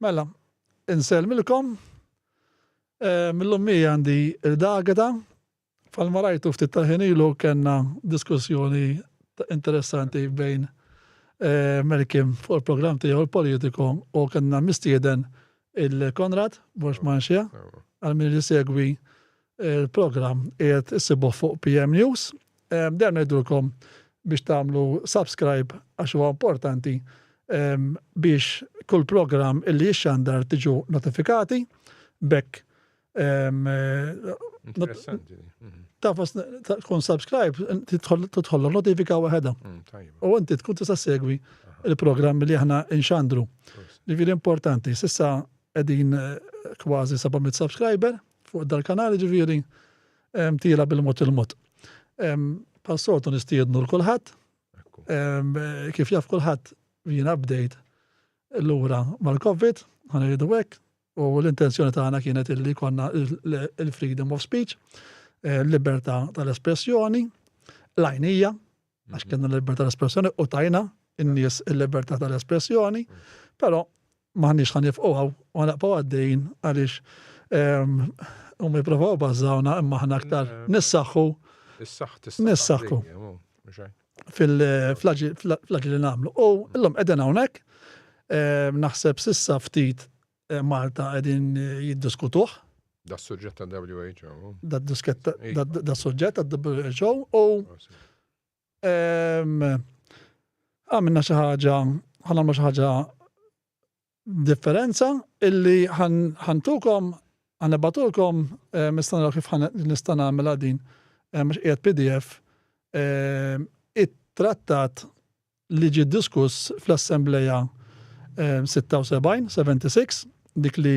Mela, insellmilkom. Mill-lum mija għandi il-dageta Bħalma rajtu ftit tal-ħin ilu kellna diskussjoni interessanti bejn eh, Melkim fuq il-programm tiegħu l-politiku u kellna mistieden il-Konrad Borx Manxia għal min li segwi eh, il-programm qiegħed issibuh fuq PM News. Eh, Dejjem ngħidulkom biex tagħmlu subscribe għax huwa importanti biex kull programm illi jixxandar tiġu notifikati bekk Tafas tkun subscribe, tidħol notifika waħedha. U inti tkun tista' segwi il-programm li aħna inxandru. Ġifieri importanti, sissa qegħdin kważi 700 subscriber fuq dal-kanal ġifieri tila bil-mod il-mod. Passotu nistiednu l-kulħadd. Kif jaf kulħadd jien update l-ura mal-COVID, ħanajdu hekk, U l-intenzjoni tagħna kienet illi jkollna il-freedom of speech, eh, l-libertà tal-espressjoni, l-għajnija, għax mhm. kienna l-libertà tal-espressjoni u tajna in-nies il-libertà tal-espressjoni, però maħniex ħan nifqu għaw u għanaqpaw għaddejn għaliex ehm, u mi provaw bazzawna imma ħna aktar nissaxu. Nissaxu. fl-aġir li nagħmlu. U illum qegħdin hawnhekk, naħseb sissa ftit Malta qegħdin jiddiskutuh. Da suġġett ta' WHO. Da suġġett ta' WHO u għamilna xi ħaġa, ħanamlu xi ħaġa differenza illi ħa ntukom, ħa nibgħatulkom, nista' nara kif nista' nagħmilha din għax qiegħed pdf, it-trattat li ġie diskuss fl-Assemblea 76, 76, dik li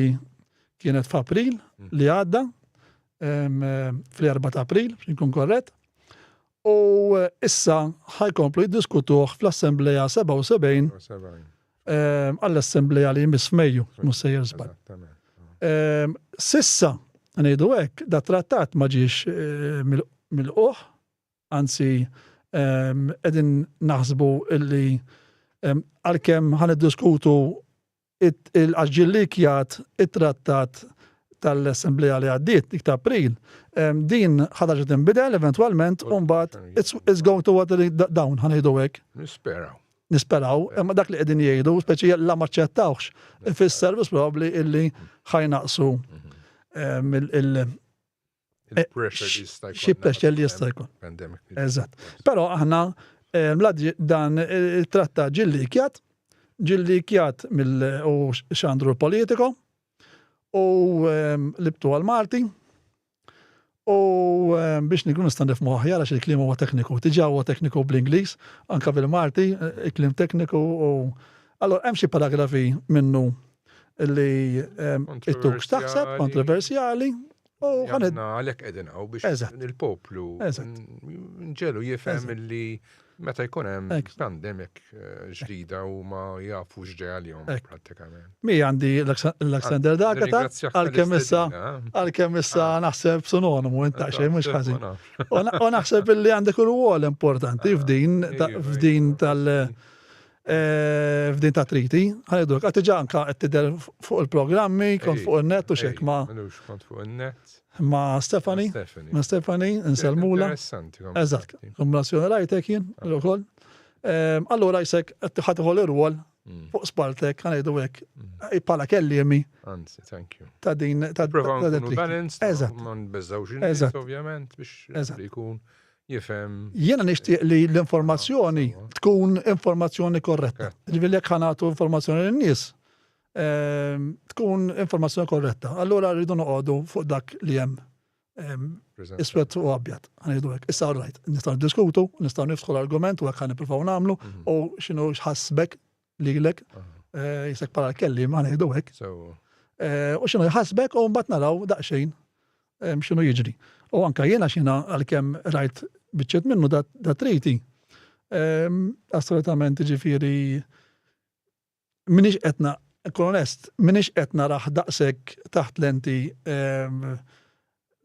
kienet f'April li għadda, fl-4 ta' April, biex inkun korrett, U issa ħa jkomplu jiddiskutuh fl-Assemblea 77, għall-Assemblea li jmiss f'Mejju, mhux sejjer żball. S'issa, ngħidu hekk, dat-trattat ma ġiex milqugħ, anzi qegħdin naħsbu li għalkemm ħa niddiskutu Għax ġie llikjat it-trattat tal-Assemblea li għaddiet, dik ta' April, din ħadd ħaġa tinbidel eventwalment u mbagħad it's going to water down ħa ngħidu hekk. Nisperaw. Nisperaw, imma dak li qegħdin jgħidu, speċi la ma ċċettawx, ifisser biss probabbli illi ħajnaqsu Eh, xi pressure li jista' jkun. Eżatt. Però aħna eh, dan il-tratta ġilli kjat, ġilli kjat mill u xandru politiko u ehm, libtu għal Malti u ehm, biex nikun nistan nifmu aħjar għax il-klim huwa tekniku, tiġa huwa tekniku bl-Ingliż, anka bil-Malti, eh, il-klim tekniku u allora hemm xi paragrafi minnu li ehm, it-tux taħseb kontroversjali Għanna għalek edin għaw biex il-poplu nġelu jifem li meta jkun hemm pandemik eh, ġdida u ma jafu x'ġej għalihom prattikament. Mi għandi l-Alexander Dagata għalkemm issa eh? għalkemm issa ah. naħseb sinonimu inta xejn mhux ħażin. U naħseb li għandek il-wol importanti ah, f'din f'din tal- f'din ta' triti, ħanejdulek, għad tiġa anka qed tidher fuq il-programmi, kont fuq in-net u xek ma. Minux kont fuq in-net. Ma Stefani. Ma Stefani, nselmula. Interessanti. Eżatt, kombinazzjoni rajtek jien, ukoll. Allura jisek qed ħadħol ir-rwol fuq spaltek, ħanejdu hekk, bħala kelliemi. Anzi, thank you. Ta' din ta' din. Provaw nkunu balanced, ma nbeżgħux in-nies ovvjament biex ikun jifhem. Jiena nixtieq li l-informazzjoni tkun informazzjoni korretta. Ġifieri jekk ħanatu informazzjoni lin-nies, ehm, tkun informazzjoni korretta. Allura rridu noqogħdu fuq dak li hemm ehm, iswed u abjad. Ħanidu hekk. Issa rajt, nistgħu diskutu, nistgħu niftħu l-argument u hekk ħan nippruvaw nagħmlu mhm. u x'inhu x'ħassbek lilek, jisek bħala l-kellim, għana jiddu hekk. U xinu jħasbek u mbagħad naraw daqsxejn xinu jiġri. U anka jiena xina għalkemm rajt biċċet minnu da triti. Assolutament ġifiri minix etna, kolonest, minix etna raħ daqsek taħt lenti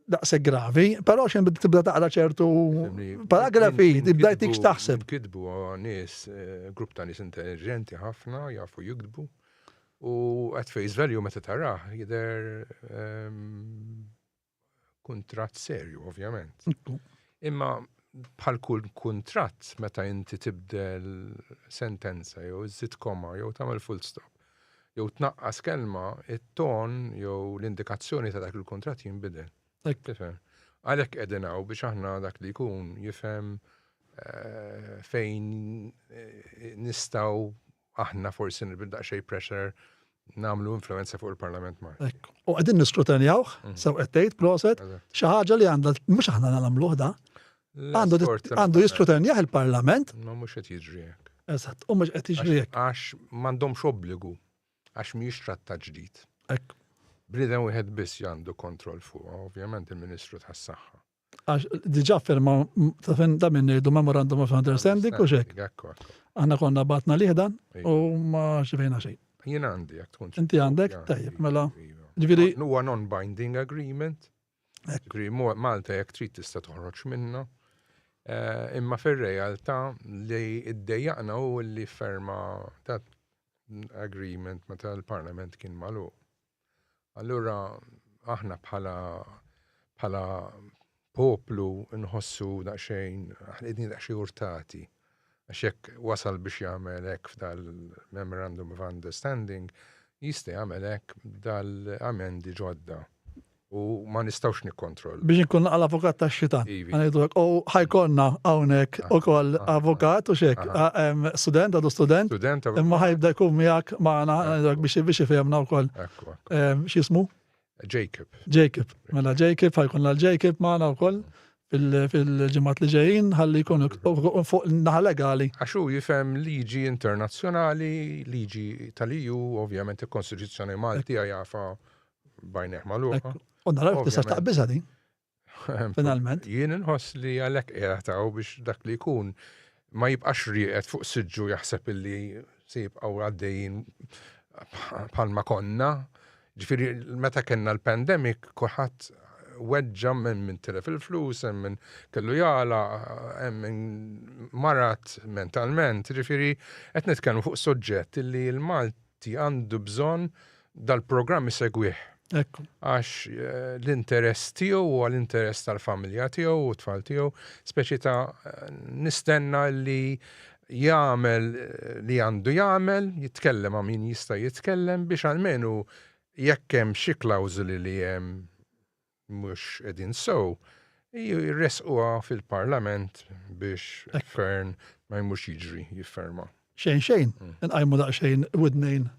daqshekk gravi, però xejn bdiet tibda taqra ċertu paragrafi, tibda jtik x'taħseb. Kitbu nies, eh, grupp ta' nies intelligenti ħafna, jafu jikdbu. U at face value meta taraħ jidher ehm, kuntratt serju, ovvjament. Imma bħal kull kuntratt meta inti tibdel sentenza jew iżid koma jew tagħmel full stop. jew tnaqqas kelma, it-ton jew l-indikazzjoni ta' dak il-kuntratt jinbidel. Tifhem? Għalhekk qegħdin hawn biex aħna dak li jkun jifhem eh, fejn eh, nistgħu aħna forsi nibda daqsxejn pressure namlu influenza fuq il-Parlament ma. Ekk. U għedin niskrutanjawħ, mhm. sew għettejt, proset, xaħġa li għanda, mux aħna namluħ da, Għandu jiskrutenjah il-Parlament. Ma mhux qed jiġri hekk. Eżatt, u mhux qed jiġri hekk. Għax m'għandhomx obbligu għax mhijiex trattat ġdid. Hekk. Bniedem wieħed biss għandu kontroll fuq, ovvjament il-Ministru tas-Saħħa. Għax diġà firma ta' fin da minn ngħidu memorandum of understanding u xek. Aħna konna batna liħdan u ma xivejna xejn. Jien għandi jekk tkun. Inti għandek, tajjeb, mela. Ġifieri. Huwa non-binding agreement. Ġri, Malta jekk trid tista' toħroġ minna. Eh, imma fir-realtà li id-dejjaqna u li ferma ta' agreement meta l-Parlament kien malu. Allura aħna bħala bħala poplu nħossu daqsxejn, ħlidni daqsxejn urtati. Għax jekk wasal biex jagħmel hekk f'dal-Memorandum of Understanding, jista' jagħmel hekk b'dal-amendi ġodda. U ma nistgħux nikkontroll. Biex inkun naqal avukat tax-xitan. U ħajkonna hawnhekk ukoll avukat u xek, student għadu student. Student. Imma ħajbda jkun miegħek magħna biex ifehmna wkoll. X'jismu? Jacob. Jacob, mela Jacob, ħajkun l Jacob maħna u koll fil-ġimat li ġejjin, ħalli jkun fuq naħa legali. Għaxu jifem liġi internazjonali, liġi tal-EU, ovvjament il-Konstituzzjoni Malti għajafa bajneħ maluqa. U naraw tista' taqbiża din. Finalment. Jien inħoss li għalhekk qiegħed hawn biex dak li jkun ma jibqax rieqed fuq siġġu jaħseb illi se jibqgħu għaddejjin bħalma konna. Ġifieri meta kellna l-pandemic kulħadd weġġa minn minn tilef il-flus, hemm minn kellu jala, hemm minn marat mentalment, ġifieri qed nitkellmu fuq soġġett illi l-Malti Ti għandu bżonn dal-programm isegwih. Ekku. Għax eh, l-interess tiegħu u l-interess tal-familja tiegħu u tfal tiegħu, speċi ta' eh, nistenna li jagħmel eh, li għandu jagħmel, jitkellem ma' min jista' jitkellem biex almenu jekk hemm xi klawżoli li hemm mhux qegħdin sew, jressquha fil-Parlament biex fern ma jmux jiġri jifferma. Xejn xejn, mm. nqajmu daqsxejn widnejn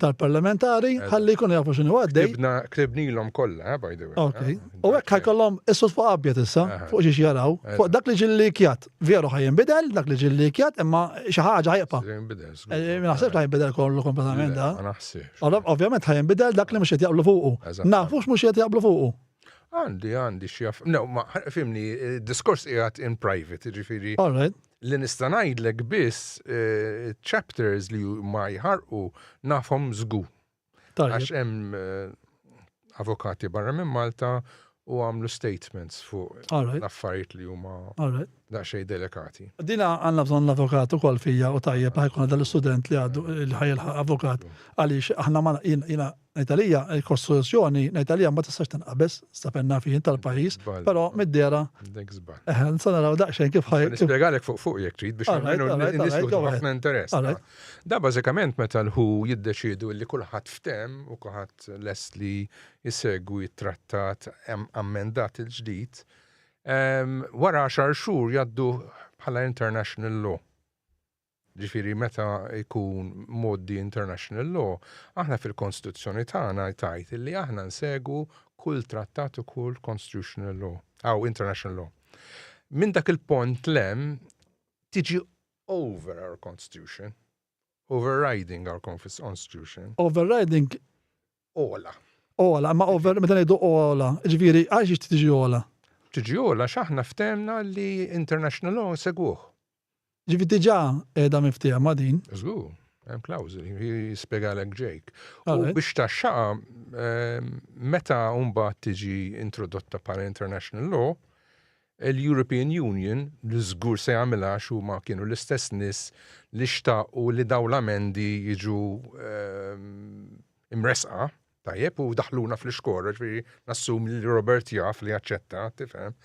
tal-parlamentari, ħalli jkunu jafu xinu għaddej. Klibna, klibnilhom kollha, eh, by the way. Ok. Eh, u hekk ħajkollhom issu fuq abjad issa, fuq xiex jaraw, fuq dak li ġilli kjat. Veru ħaj jinbidel, dak li ġil likjat, imma xi ħaġa ħajqpa. Eh, ma naħsibx ħaj jinbidel kollu kompletament da. Ma naħsibx. Ovvjament ħaj jinbidel dak li mhux qed jaqblu fuqu. Nafux mhux qed jaqblu fuqu. Għandi, għandi xi jaf. No, ma fimni, eh, diskors qiegħed in private, ġifieri. All right. Li nista' ngħidlek biss eh, chapters li ma jħarqu nafhom żgu. Għax hemm eh, avokati barra minn Malta u għamlu statements fuq l-affarijiet li huma daqsxejn delikati. Dina għandna bżonn l-avukat ukoll fija u tajjeb ħajkun għadha l-istudent li għadu li ħajilħaq avukat għaliex aħna ma jiena ngħidalija l-kostituzzjoni ngħidalija ma tistax tinqabeż sta penna fih tal-pajjiż, però mid-dera eħen sa naraw daqsxejn kif ħaj. Nispjegalek fuq fuq jekk trid biex ħafna interess. Da bażikament meta l-who jiddeċiedu li kulħadd ftehem u kulħadd lest li jsegwi t-trattat ammendat il-ġdid, wara għaxar xhur jgħaddu bħala international law. Ġifieri meta jkun mgħoddi international law, aħna fil-Konstituzzjoni tagħna tajt li aħna nsegwu kull trattat u kull constitutional law, aw international law. Minn dak il-pont lem tiġi over our constitution, overriding our constitution. Overriding? Ola. Ola, ma over, meta ngħidu ola, ġifieri għax ix tiġi ola. Tiġi ola x'aħna ftemna li international law segwuh. Ġifieri diġà qiegħda miftieha ma' din. Żgur, hemm klawżoli, jispjegalek Jake. U biex taxxaqa ehm, meta mbagħad tiġi introdotta bħala international law, Il-European Union li żgur se jagħmilha għax huma kienu l-istess nies li xtaqu li dawn l-amendi jiġu imressqa, tajjeb, u daħluna fl-ixkora, ġifieri nassumi li Robert jaf li jaċċetta, tifhem.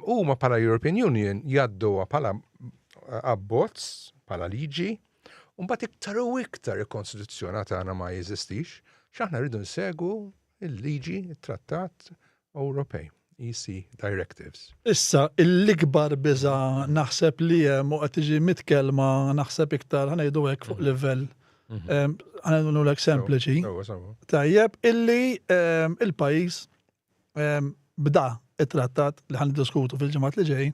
Huma bħala European Union jgħadduha bħala abbozz, bħala liġi, u mbagħad iktar u iktar il-Konstituzzjoni tagħna ma jeżistix, x'aħna rridu nsegu il-liġi, it-Trattat Ewropej, EC directives. Issa, l-ikbar biża' naħseb li hemm u qed tiġi mitkellma naħseb iktar ħa ngħidu hekk fuq livell ħa ngħidulek sempliċi. Tajjeb, illi il-pajjiż bda t-trattat li ħa niddiskutu fil-ġimgħat li ġejjin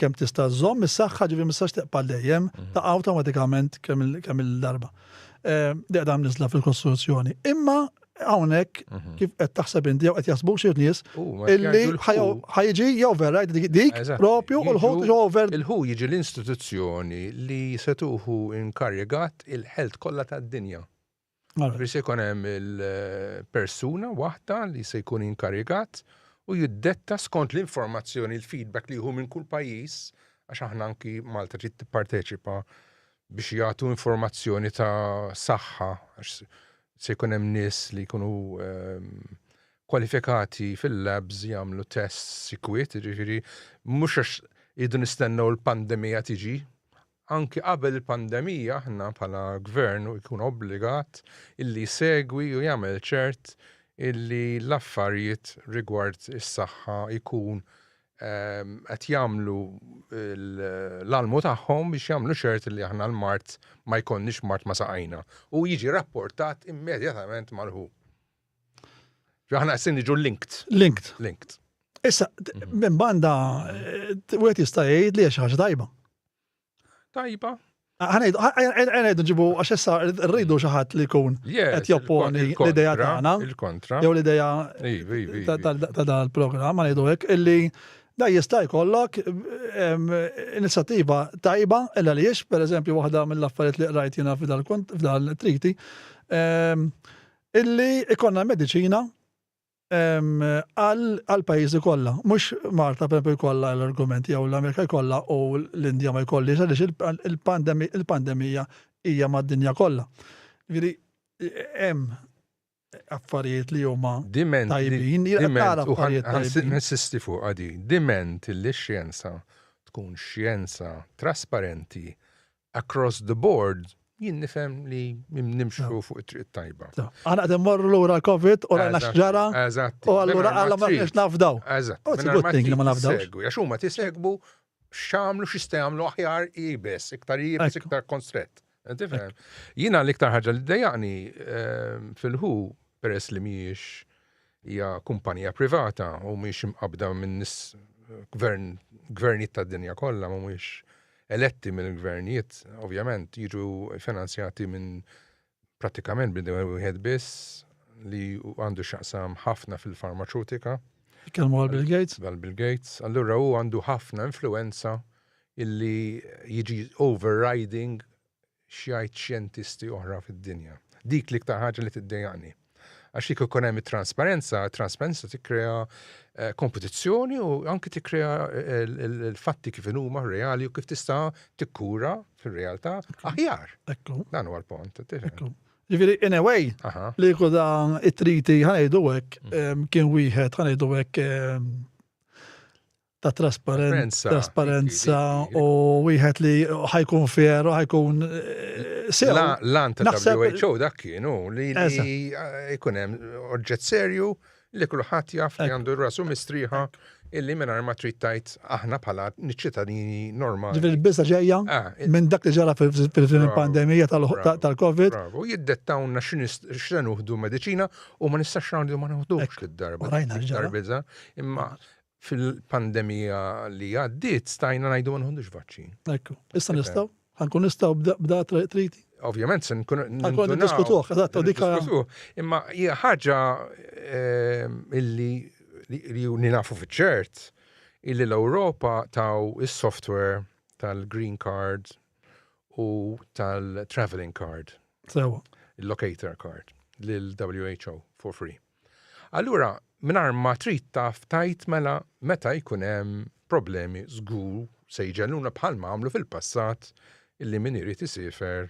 kemm tista' żżomm is-saħħa ġifieri ma tistax teqpa' għal dejjem, taqa' awtomatikament kemm il-darba. Deqda mniżla fil-Kostituzzjoni. Imma hawnhekk mhm. kif qed taħseb inti jew qed jaħsbu xi nies illi ħajġi jew vera dik propju u l-ħut ġo over. Il-ħu jiġi l-istituzzjoni li se tuħu inkarigat il-ħelt kollha tad-dinja. Ġifieri se jkun hemm il-persuna waħda li se jkun inkarigat u jiddetta skont l-informazzjoni, l-feedback li jieħu minn kull pajjiż, għax aħna anki Malta trid tipparteċipa biex jagħtu informazzjoni ta' saħħa għax se jkun hemm nies li jkunu ehm, kwalifikati fil-labs jagħmlu tests sikwit, jiġifieri mhux għax idu nistennew l-pandemija tiġi, Anki qabel il-pandemija aħna bħala Gvern jkun obbligat illi jsegwi u jagħmel ċert illi l-affarijiet rigward is-saħħa jkun qed jagħmlu l-almu tagħhom biex jagħmlu ċert illi aħna l-mard ma jkollniex mard ma' saqajna u jiġi rapportat immedjatament mal-who. Ġo aħna qed niġu linked. Linked. Linked. Issa, minn banda, wieħed jista' jgħid li hija xi ħaġa tajba. Tajba. Għanajdu, għanajdu ġibu, għax issa rridu xaħat li kun għet jopponi l-ideja tagħna. Il-kontra. Jew l-ideja ta' dan il-programm, għanajdu għek, illi da jista' jkollok inizjattiva tajba, illa li jiex, per eżempju, waħda mill-affarijiet li qrajt jina f'dal-triti, illi ikonna medicina għall-pajjiżi kollha. Mhux Malta pereżempju jkollha l-argument jew l-Amerika jkollha u l-Indja ma jkollhiex għaliex il-pandemija hija mad-dinja kollha. Jiġifieri hemm affarijiet li huma tajbin. Ninsisti fuq għadi, diment li x-xjenza tkun xjenza trasparenti, across the board, jien nifhem li nimxu fuq it-triq tajba. Għana għadem morru l-ura l-Covid u għana xġara. Eżatt. U għallura għalla ma nix nafdaw. Eżatt. U t-għutting li ma nafdaw. Għax huma tisegbu xamlu xista jamlu aħjar jibes, iktar jibes, iktar konstret. Jina l-iktar ħagġa li d-dajani ehm, fil-ħu peress li miex Hija kumpanija privata u mhix imqabbda minn nies gvern gvernijiet tad-dinja kollha mhumiex eletti mill-gvernijiet, ovvjament jiġu finanzjati minn prattikament bnedem wieħed biss li għandu x'jaqsam ħafna fil-farmaċutika. Jitkellmu għal Bill Gates? Għal Bill Gates. Allura hu għandu ħafna influenza illi jiġi overriding x'jgħid xjentisti oħra fid-dinja. Dik l-iktar ħaġa li tiddejjaqni. Għax jekk ikun hemm it-transparenza, transparenza tikkrea eh, kompetizzjoni u anki tikkrea eh, l-fatti kif huma reali u kif tista' tikkura fir-realtà aħjar. Ekku. Dan huwa l-pont. Ġifieri in a way li kuda it-triti ħanejdu hekk mm. kien wieħed ħanejdu hekk ta' trasparenza, trasparenza u wieħed li ħajkun fer u ħajkun eh, sew. Lan ta' WHO dak kienu li jkun hemm oġġett serju li kulħadd jaf li għandu rasu mistrieħa illi minn ma trid tajt aħna bħala ċittadini normali. Ġifieri biża ġejja ah, minn dak li ġara fil-pandemija tal-COVID. U jiddettawna x'se nuħdu mediċina u ma nistax nagħmlu ma nuħdux lid-darba. Darbiża imma Fil-pandemija li għaddiet stajna ngħidu ma nħodux vaċċin. Ekku. Issa nistgħu? Ħa nkun nistgħu b'da triti? Ovvjament se nkun nistgħu diskutuh, eżatt, u dikha. Imma hija ħaġa ehm, illi li nafu fiċ-ċert illi l-Ewropa taw is-software tal-green card u tal-traveling card. Sewa. Il-locator card lil-WHO for free. Allura mingħajr ma trid taf tgħid mela meta jkun hemm problemi żgur se jġelluna bħalma għamlu fil-passat illi min irid isifer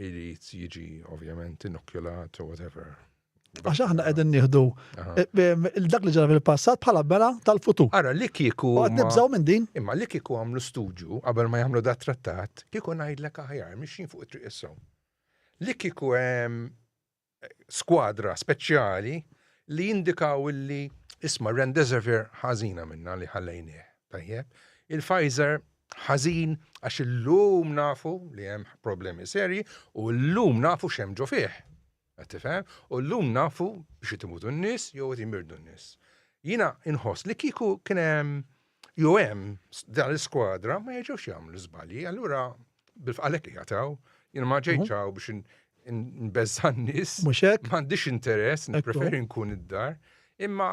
irid jiġi ovvjament inokjulat u whatever. Għax aħna qegħdin nieħdu eh, eh, dak li ġara fil-passat bħala bela tal-futur. Ara li kieku. Għad nibżaw minn din. Imma li kieku għamlu studju qabel ma jagħmlu dat trattat, kieku ngħidlek aħjar mixin fuq it-triq Li kieku hemm skwadra speċjali li jindikaw illi isma' Rendesivir ħażina minna li ħallejnieh, tajjeb, il-Pfizer ħażin għax illum nafu li hemm problemi serji u llum nafu x'hemm ġo fih. Qed tifhem? U llum nafu biex qed imutu n-nies jew qed imirdu n-nies. Jiena inħoss li kieku kien hemm Jew hemm dan l-iskwadra ma jiġux jagħmlu żbalji, allura bil-fqalek jataw, jien ma ġejċaw mhm. biex nbeżżan nies. Mhux hekk? M'għandix interess, nippreferi nkun id-dar, imma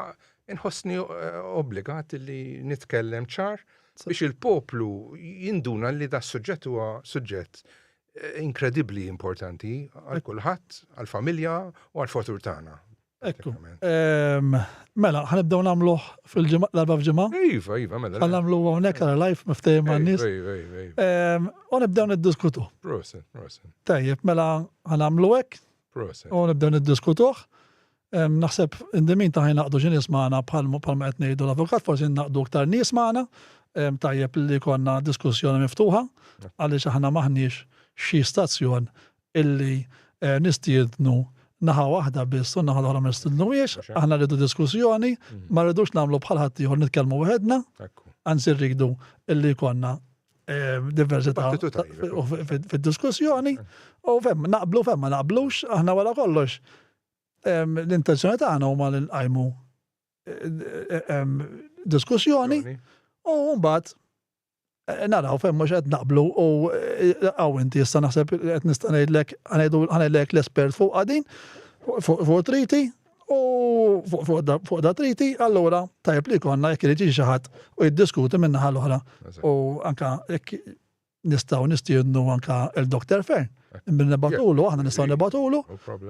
nħossni eh, obbligat li nitkellem ċar biex il-poplu jinduna li da suġġett huwa suġġett eh, inkredibli importanti għal kulħadd, għal familja u għal fotur tagħna. Ekku. Mela, ħa nibdew nagħmluh fil-ġimgħa l-erba' f'ġimgħa? Iva, iva, mela. Ħa nagħmluh hawnhekk għal live miftehim man-nies. Iva, iva, iva. U nibdew niddiskutu. Proset, proset. Tajjeb, mela ħa nagħmlu hekk. Proset. U nibdew niddiskutuh. Naħseb indimin ta' ħajn naqdu xi nies magħna bħal ma qed ngħidu l-avukat, forsi naqdu aktar nies magħna. Tajjeb li konna diskussjoni miftuħa għaliex aħna maħniex xi stazzjon illi nistiednu naħa waħda biss u naħa l-oħra ma nistidnuhiex, aħna rridu diskussjoni, mm. ma rridux nagħmlu bħal ħadd ieħor nitkellmu waħedna, anzi rridu illi jkollna eh, diversità fid-diskussjoni u fem naqblu fem ma naqblux aħna wara kollox l-intenzjoni tagħna huma li nqajmu eh, eh, diskussjoni u mbagħad Naraw fejn mhux qed naqblu u hawn inti issa naħseb li qed nista' ngħidlek ħanidlek l-espert fuqha din fuq triti u fuq da triti allura tajjeb li jkollna jekk irid xi ħadd u jiddiskuti min-naħa l-oħra u anke jekk nistgħu nistiednu anke il-Dr. Fern minn nibatulu aħna nistgħu nibatulu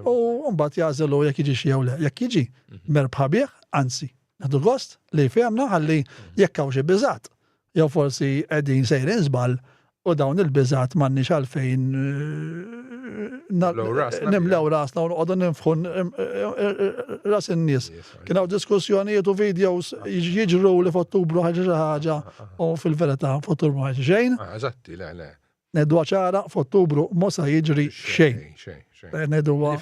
u mbagħad jagħżelu jekk jiġi xi jew le jekk jiġi mhm. merbħa bih anzi Nħadu gost li fehmna ħalli jekk hawn xi biżat, jew forsi qegħdin sejrin żball u dawn il-biżat m'għandniex għalfejn nimlew rasna u noqogħdu ninfħu ras in-nies. Kien hawn diskussjonijiet u videos jiġru li f'Ottubru ħaġa xi ħaġa u fil-verità f'Ottubru ħaġa xejn. Eżatti, le, le. Ngħiduha ċara, f'Ottubru mhu sa jiġri xejn. Ngħiduha.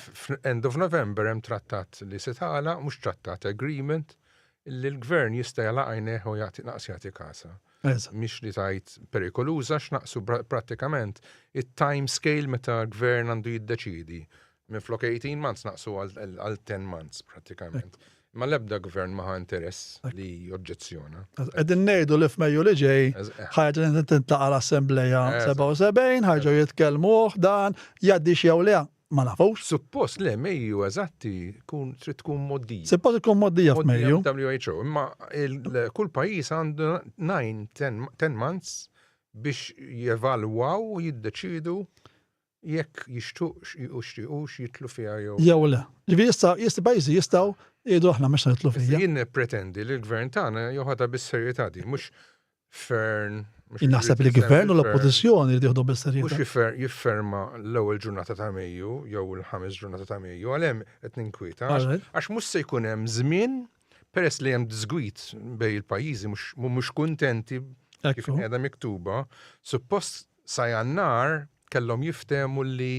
End of November hemm trattat li se tagħlaq, mhux trattat agreement, li l-gvern jista' jala għajnejh u jagħti naqs jagħti kasa. Mhix li tajt perikoluża x'naqsu prattikament it-time scale meta l-gvern għandu jiddeċidi Minflok 18 months naqsu għal 10 months pratikament. Ma l-ebda gvern maħa interess li oġġezzjona. Għedin nejdu li f'Mejju li ġej, ħajġa li tintlaqa l-Assembleja 77, ħajġu jitkelmu dan, jaddi xiew li ma nafux. Suppost le Mejju eżatti kun trid tkun moddija. Suppost tkun moddija f'Mejju. WHO, imma kull pajjiż għandu 9-10 months biex jevalwaw u jiddeċidu jekk jixtuqx jixtiequx jidħlu fiha jew. Jew le. Ġifieri issa jista' pajjiżi jistgħu jgħidu aħna ma nixtiequx nidħlu fija. Issa jien nippretendi li l-Gvern tagħna joħodha bis-serjetà din, mhux fern. Jien naħseb li l-Gvern u l-Oppożizzjoni jridu jieħduha bis-serjetà. Mhux jifferma l-ewwel ġurnata ta' Mejju jew il-ħames ġurnata ta' Mejju, għal hemm qed ninkwieta għax mhux se jkun hemm żmien peress li hemm disgwid bejn il-pajjiżi mhux kuntenti kif qiegħda miktuba, suppost Sa Jannar kellhom jiftehmu li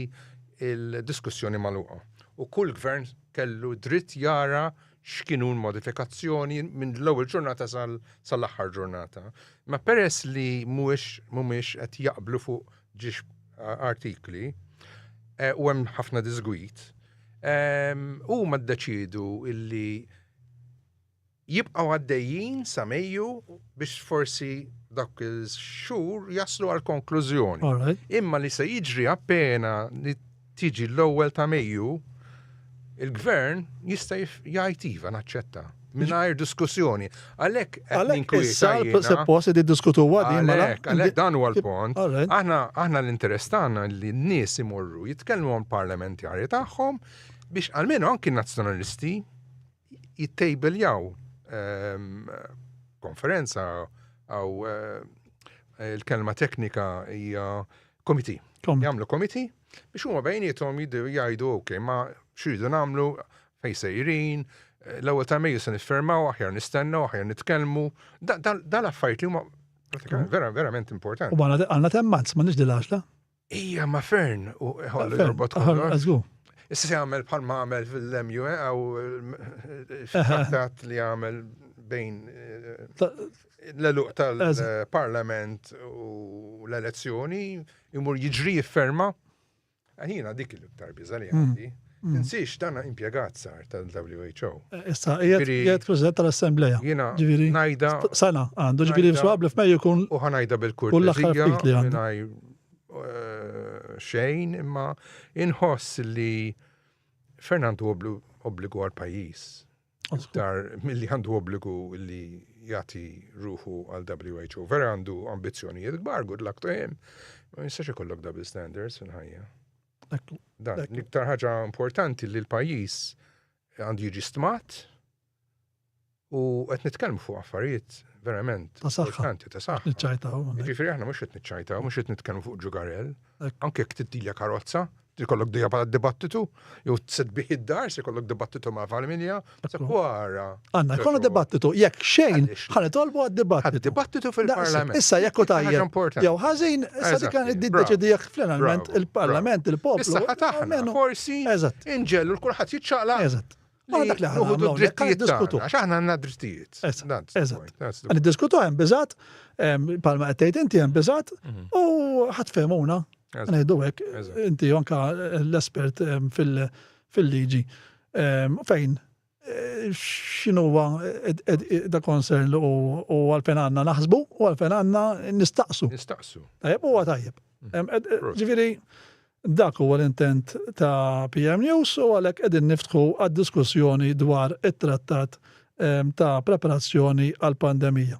l-diskussjoni magħluqa u kull Gvern kellu dritt jara x'kien hu l-modifikazzjoni minn l-ewwel ġurnata sal-aħħar ġurnata. Imma peress li mhumiex qed jaqblu fuq ġiex artikli u hemm ħafna diżgwid, huma ddeċiedu li jibqgħu għaddejjin sa Mejju biex forsi dawk ix-xhur jaslu għal konklużjoni. Imma li se jiġri appena li tiġi l-ewwel ta' Mejju, il-Gvern jista' jgħid iva naċċetta mingħajr diskussjoni. Għalhekk qed ninkwieta jiena. Suppost qed iddiskutuha din mela. Għalhekk, għalhekk dan huwa l-punt. Aħna aħna l-interess tagħna li n-nies imorru jitkellmu mal-parlamentari tagħhom biex almenu anki n-Nazzjonalisti jittejbiljaw konferenza għaw il-kelma teknika hija komiti. Jamlu komiti biex huma bejnietom jgħidu ok, ma xridu namlu fej sejrin, l-ewwel ta' Mejju se niffermaw, aħjar nistennaw, aħjar nitkellmu. Dan affarijiet li huma verament importanti. U għandna temmanz, ma nix dil-għaxla. Ija, ma fern, u ħollu jorbot kollox. Issa se għamel bħal ma għamel fil-lemju, eh, għaw eh, trattat li għamel bejn eh, l-eluq tal-parlament u l-elezzjoni, jimur jġri jifferma. Għanina dik il-iktar biza li mm. għandi. Tinsiex dan impjegat sar tal-WHO. Issa qiegħed President tal-Assemblea. Jiena ngħidha. Sena għandu, ġifieri sewwa qabel f'Mejju jkun. U ħa ngħidha bil-kurtezija mingħajr xejn imma inħoss li Fernandu obbligu għal pajjiż iktar milli għandu obbligu li jagħti ruħu għal WHO. Vera għandu ambizzjonijiet kbar, good luck to him. Ma jistax ikollok double standards fil-ħajja. Dan, l-iktar ħaġa importanti li l-pajjiż għandu jiġi stmat u qed nitkellmu fuq affarijiet verament importanti ta' saħħa. Niċċajtaw. Ġifieri aħna mhux qed niċċajtaw, mhux qed nitkellmu fuq ġugarell, anke jekk titilja karozza, tikollok dejja bħala dibattitu, jew tsedbih id-dar, se jkollok dibattitu ma' familja, Għanna, jkollu dibattitu, jekk xejn, ħan tolbu għad-dibattitu. Dibattitu fil-parlament. Issa, jekk u tajja. Jew ħazin, issa dik għan id-deċidi jekk fl-enalment il-parlament, il-poplu. Issa ħataħna, forsi, inġellu l-kulħat jitċaqla. Eżat. Ma dak li ħadu d-drittijiet diskutu. Għax aħna għanna drittijiet. Eżat. Għan diskutu għan bizat, palma għattejt inti għan bizat, mhm. u ħatfemuna. Għan għeddu għek, inti jonka l-espert fil-liġi. Fejn? X'inhuwa the concern li u għalfejn għandna naħsbu u għalfejn għandna nistaqsu. Nistaqsu. Tajjeb huwa tajjeb. Mm-hmm. Ġifieri dak huwa l-intent ta' PM News u għalhekk qegħdin niftħu għad-diskussjoni dwar it-trattat ta' preparazzjoni għall-pandemija.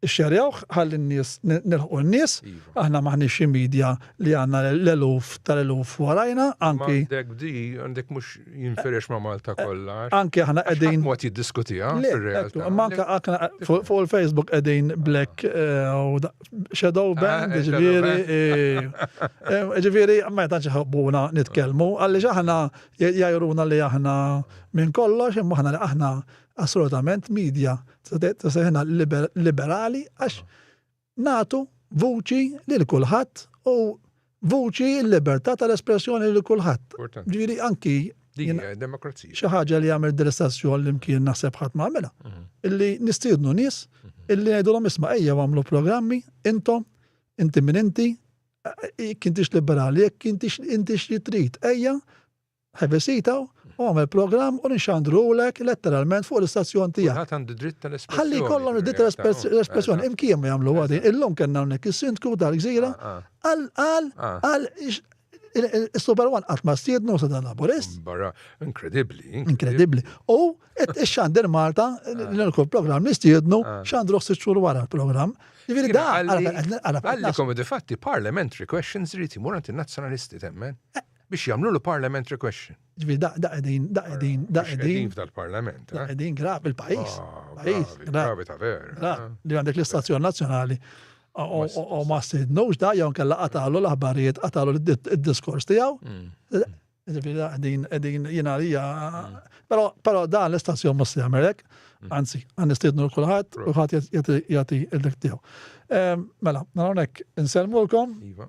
Xxerjawh ħalli n-nies, nilħqu n-nies, aħna m'aħniex xi media li għandna l-eluf tal-eluf warajna, anki. Ma għandek di, għandek mhux jinfirex ma' Malta kollha. Anki aħna qegħdin. Ħadd mod jiddiskutiha fir-realtà. Ma anke aħna fuq il-Facebook qegħdin black shadow band, ġifieri. Ġifieri ma tantx iħobbuna nitkellmu, għaliex aħna jgħajruna li aħna minn kollox, imma aħna li aħna Assolutament, media ta' seħna liberali għax natu vuċi lil kulħadd u vuċi l-libertà tal-espressjoni lil kulħadd. Ġiri anki demokrazija. Xi ħaġa li għamel dil-istazzjon li mkien naħseb ħadd ma għamilha. Mhm. Illi nistiednu nies mhm. illi ngħidulhom isma' ejja għamlu programmi intom inti minn inti kintix liberali, jekk intix intix li trid, ejja Ivvisita u għamel programm u nixxandrulek letteralment fuq l-istazzjon tiegħek. Kulħadd għandu dritt tal-espressjoni. Ħalli jkollhom id-dritt tal-espressjoni. Imkien ma jagħmlu għadin. Illum kellna hawnhekk is-Sindku tal-Gżira qal qal qal Is-Super One qatt ma stiednu sa dan laburist. Barra, inkredibbli. Inkredibbli. U ix-xandir Malta, l-kull programm nistiednu, xandru sitt xhur wara l-programm. Ġifieri da għalli komedi fatti parliamentary questions riti murant in-nazzjonalisti temmen. Biex jagħmlulu parliamentary question. Ġifieri da da qegħdin, da qegħdin, da Mhux qegħdin qegħdin. f'dal-Parlament, Da eh? qegħdin grav il-pajjiż. Ah, Pajjiż, gravi, grav. gravi ta' vera. Ra, eh? li għandek l-istazzjon nazzjonali o- o- o- o ma sidnux da jew kella qatalu l-aħbarijiet, qatalu l-diskors tiegħu. Mm. Ġifieri da qegħdin qegħdin jiena għalija. Però però dan l-istazzjon mhux se jagħmel hekk. Anzi, għan nistidnu l kulħadd u ħadd jagħti- jagħti jagħti l-dik tiegħu. Ehm, Mela, nara hawnhekk insellmulkom. Iva.